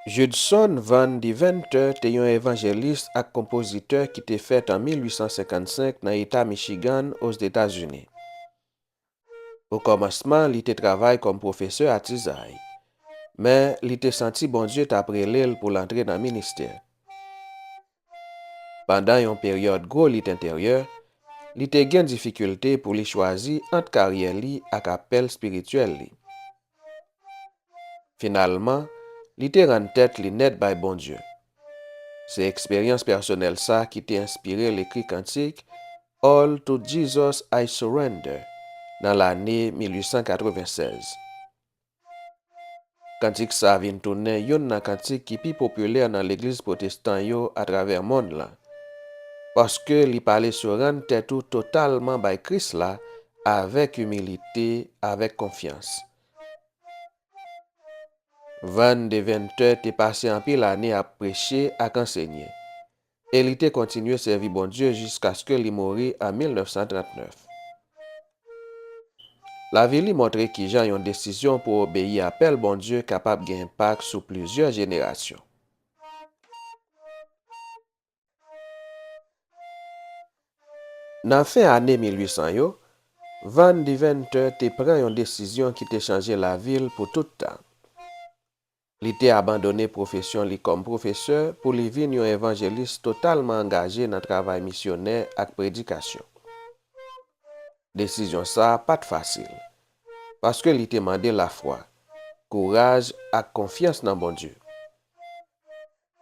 Judson Van Deventer te yon evanjelis ak konpozitè ki te fèt an 1855 nan Eta Michigan, Ozetazini. Okòmansman, li te travay kòm pwofesè atizay, men li te santi Bondye t ap rele l pou l antre nan ministè. Pandan yon peryòd gwo lit enteryè, li te gen difikilte pou li chwazi ant karyè li ak apèl espirityèl li. Finalman, li te rann tèt li nèt bay Bondye. Se eksperyans pèsonèl sa ki te enspire l ekri kantik All to Jesus I Surrender nan lane 1896. Kantik sa a vin tounen youn nan kantik ki pi popilè nan legliz pwotestan yo atravè monn lan, paske li pale sou rann tèt ou totalman bay Kris la avèk imilite, avèk konfyans. Van Deventer te pase anpil ane ap preche ak ansenye. e li te kontinye sèvi Bondye jiskaske li mouri an 1939. Lavi li montre kijan yon desizyon pou obeyi apèl Bondye kapab gen enpak sou plizyè jenerasyon. Nan fen ane 1800 yo, Van Deventer te pran yon desizyon ki te chanje lavi l pou tout tan. Li te abandone pwofesyon li kòm pwofesè pou li vin yon evanjelis totalman angaje nan travay misyonè ak predikasyon. Desizyon sa a pa t fasil, paske li te mande lafwa, kouraj ak konfyans nan Bondye.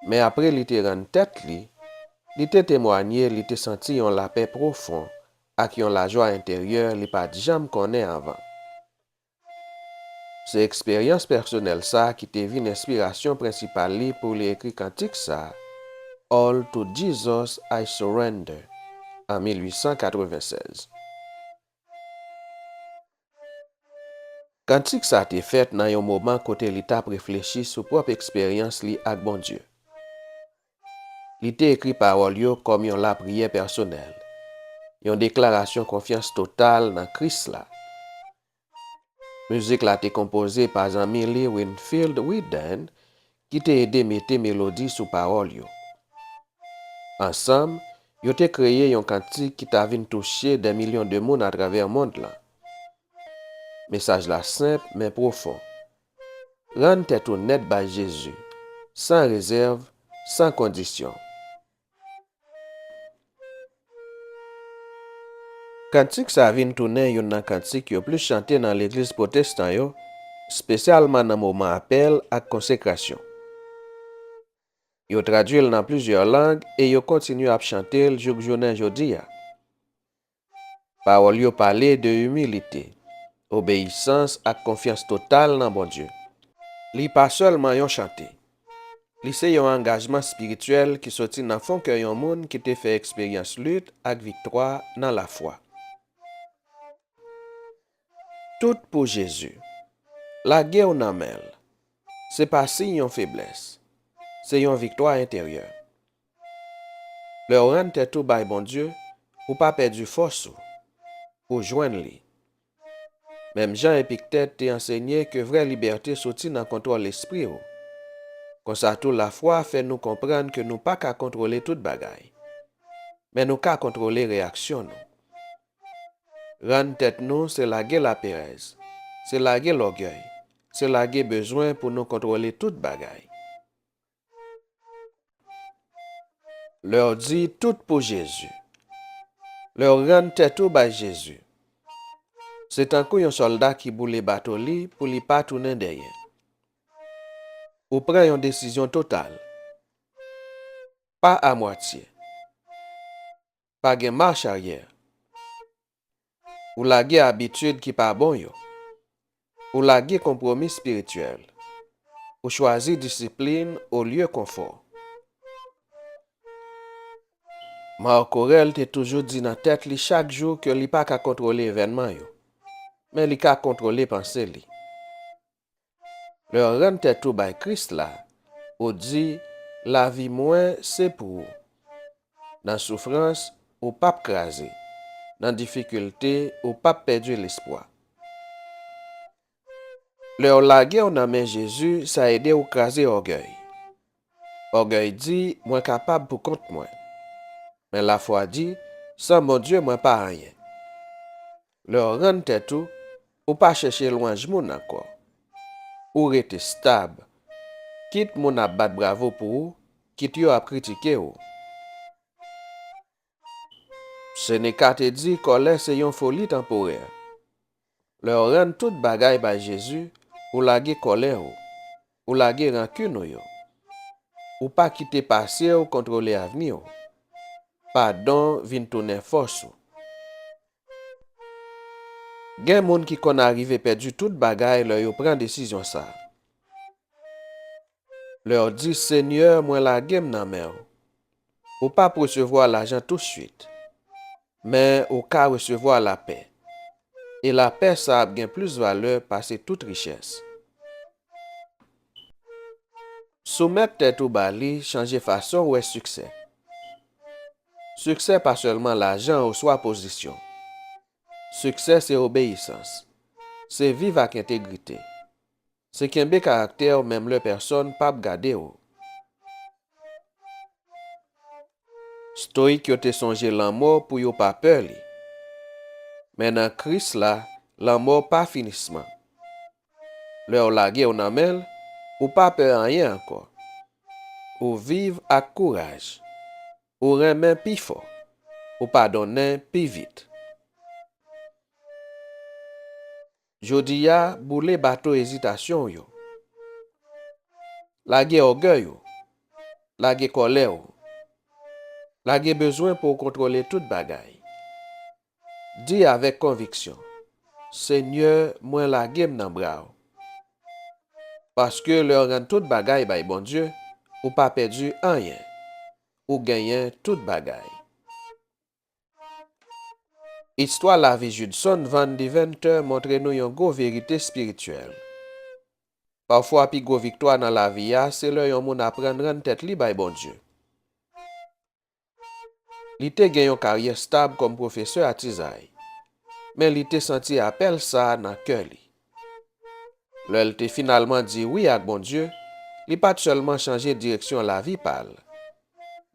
Men apre li te rann tèt li, li te temwanye li te santi yon lapè pwofon ak yon lajwa enteryè li pa t janm konnen anvan. Se eksperyans pèsonèl sa ki te vin enspirasyon prensipal li pou li ekri kantik sa, All to Jesus I surrender, an 1896. Kantik sa te fèt nan yon moman kote li t ap reflechi sou pwòp eksperyans li ak Bondye. Li te ekri pawòl yo kòm yon lapriyè pèsonèl, yon deklarasyon konfyans total nan Kris la. Mizik la te konpoze pa zanmi li Winfield Wheaton ki te ede mete melodi sou pawòl yo. Ansanm, yo te kreye yon kantik ki ta vin touche dè milyon de moun atravè mond lan. Mesaj la senp men pwofon. Rann tèt ou nèt bay Jezi, san rezèv, san kondisyon. Kantik sa vin tounen youn nan kantik yo plis chante nan legliz pwotestan yo, spesyalman nan moman apèl ak konsekrasyon. Yo tradui l nan plizyè lang e yo kontinye ap chante l jouk jounen jodi a. Pawòl yo pale de imilite, obeyisans ak konfyans total nan Bondye. Li pa sèlman yon chante. Li se yon angajman espirityèl ki soti nan fon kè yon moun ki te fè eksperyans lit ak viktwa nan lafwa. Tout pou Jezi. Lage w nan men l se pa siy yon feblès, se yon viktwa enteryè. Lèw rann tèt ou bay Bondye ou pa pèdi fòs ou pou jwenn li. Menm jan Epiktet te ansenye ke vrè libète soti nan kontwòl lespri ou. Konsa tou lafwa fè nou konprann ke nou pa ka kontwole tout bagay. Men nou ka kontwole reyaksyon nou. Rann tèt nou se lage laperèz, se lage lògèy, se lage bezwen pou nou kontwole tout bagay. Lè w di tout pou Jezi. Lè w rann tèt ou bay Jezi. Se tankou yon sòlda ki boule bato li pou li pa tounen dèyè. Ou pran yon desizyon total. Pa amwatye. Pa gen mach aryè. Ou lage abitid ki pa bon yo. Ou lage konpwomi espirityèl. Ou chwazi disiplin olye konfò. Marc Aurèle te toujou di nan tèt li chak jou ke li pa ka kontwole evènman yo, men li ka kontwole panse li. Lè w rann tèt ou bay Kris la, ou di, Lavi mwen se pou ou. Nan soufrans, ou p ap kraze. Nan difikilte, ou p ap pèdi lespwa. Lè w lage w nan men Jezi, sa ede w kraze ògèy. Ògèy di, Mwen kapab pou kont mwen. Men lafwa di, San Bondye, mwen pa anyen. Lè w rann tèt ou, ou pa chèche lwanj moun ankò. Ou rete stab, kit moun ap bat bravo pou ou, kit yo ap kritike ou. Seneca te di kòlè se yon foli tanporè. Lè w rann tout bagay bay Jezi, ou lage kòlè ou, ou lage rankin ou yo. Ou pa kite pase w kontwole avni w. Padon vin tounen fòs ou. Gen moun ki konn arive pèdi tout bagay lè yo pran desizyon sa. Lè w di, Senyè, mwen lage m nan men w. Ou p ap resevwa lajan tousuit, men ou ka resevwa lapè. E lapè sa ap gen plis valè pase tout richès. Soumèt tèt ou ba li chanje fason w wè siksè. Siksè pa sèlman lajan oswa pozisyon. Siksè se obeyisans. Se viv ak entegrite. Se kenbe karaktè w menm lè pèsòn pap gade w. Stoik yo te sonje lanmò pou yo pa pè li. Men nan Kris la, lanmò pa finisman. Lè w lage w nan men l, ou pa pè anyen ankò. Ou viv ak kouraj. Ou renmen pi fò. Ou padonnen pi vit. Jodi a, boule bato ezitasyon w yo. Lage ògèy ou. Lage kòlè ou. Lage bezwen pou w kontwole tout bagay. Di avèk konviksyon, Senyè, mwen lage m nan bra w. Paske lè w rann tout bagay bay Bondye, ou pa pèdi anyen, ou genyen tout bagay. Istwa lavi Judson Van Deventer montre nou yon gwo verite espirityèl. Pafwa pi gwo viktwa nan lavi a se lè yon moun aprann rann tèt li bay Bondye. Li te gen yon karyè stab kòm pwofesè atizay, men li te santi apèl sa a nan kè li. Lè l te finalman di wi ak Bondye, li pa t sèlman chanje direksyon lavi pa l,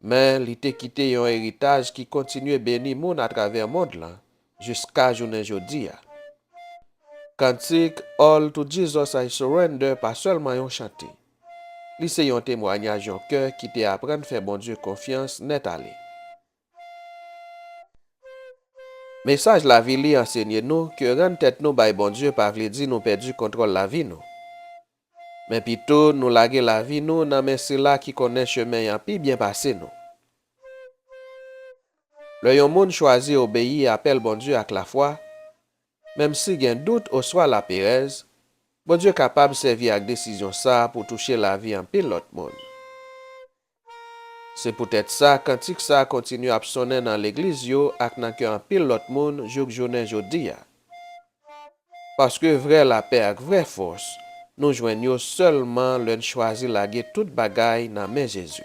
men li te kite yon eritaj ki kontinye beni moun atravè mond lan Jiska jounen jodi a. Kantik All to Jesus I Surrender pa sèlman yon chante. Li se yon temwanyaj yon kè ki te aprann fè Bondye konfyans nèt ale. Mesaj lavi li ansenye nou ke rann tèt nou bay Bondye pa vle di nou pèdi kontwòl lavi nou. Men pito nou lage lavi nou nan men sila ki konnen chemen an pi byen pase nou. Lè yon moun chwazi obeyi apèl Bondye ak lafwa, menmsi gen dout oswa laperèz, Bondye kapab sèvi ak desizyon sa a pou touche lavi anpil lòt moun. Se poutèt sa, kantik sa a kontinye ap sonnen nan legliz yo ak nan kè anpil lòt moun jouk jounen jodi a. Paske vrè lapè ak vrè fòs, nou jwenn yo sèlman lè n chwazi lage tout bagay nan men Jezi.